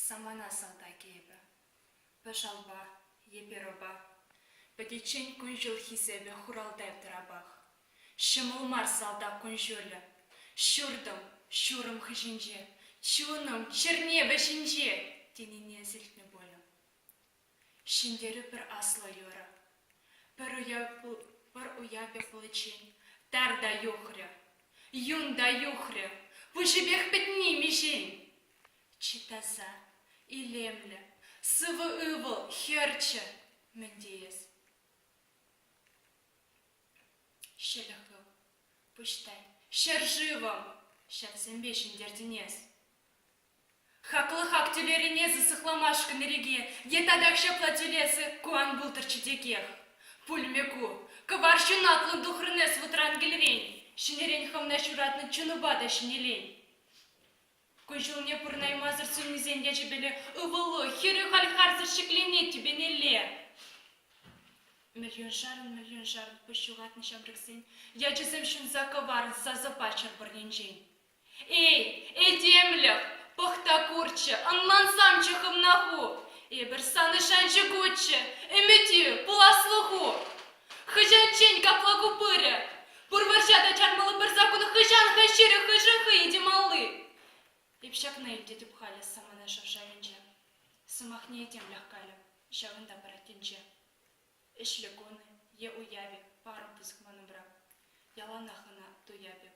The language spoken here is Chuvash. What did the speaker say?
Самана салтакӗ эпӗ. Пӗр шалпа, е перопа. Пӗтиччен кун-ҫул хисепӗ хуралтай тӑрапах. Ҫӑмӑл мар салтак кун-ҫулӗ. Ҫуртӑм, ҫурӑм хыҫӗнче, чунӑм, чӗрне вӗҫӗнче, тенине сирӗлтнӗ пулӗ. Ҫӗнтерӳ пӗр аслӑ юрӑ. Пӗр уявӗ пуличчен тар та юхрӗ, юн та юхрӗ, пуҫӗпех пӗтни миҫен! Чи таса, илемлӗ, сывӑ ывӑл, хӗрчӗ мӗн теес? Ҫӗлӗклӗ пуҫтай, ҫӗршывӑм, ҫаксемпе ҫӗнтертӗн эс. Хаклӑ хак тӳлерӗн эсӗ сыхламашкӑн иреке, Е татах ҫапла тӳлесӗ, ку ан пултӑрччӗ текех. Пулмӗ ку. Кӑвар ҫунатлӑн тухрӑн эс вӑтран кӗлрен, Ҫӗнӗрен хӑвна ҫуратнӑ чунупа та ҫӗнелен. Кун-ҫулне пурӑнаймасӑр суннисен ячӗпеле Ывӑлу, хӗрӳ халь харсӑр ҫӗкленет тӳпенелле. Миллионшарӑн, миллионшарӑн пуҫ ҫухатнӑ ҫамрӑксен Ячӗсем ҫунса кӑварӑн сасӑ пачӑр пӑрнинчен. Эй, этемлӗх, пӑхта курччӗ, ӑнлансамччӗ хӑвна ху. Эпир санӑн шанчӑкуччӗ, ӗмӗтӳ, пуласлӑху. Хӑҫанччен капла ку пырӗ? Пур вӑрҫа та чармалли пӗр саккун хӑҫан-ха ҫырӗ хӑйшӗн хӑйӗн те малли? Эп ҫакна илтетӗп халӗ самана шав шавӗнче. Сӑмахне этемлӗх калӗ, ҫавӑнта парать тӗнче. Ӗҫлӗ кун е уявӗ, парӑм пысӑк ман умра. Яланах ӑна туяп эп,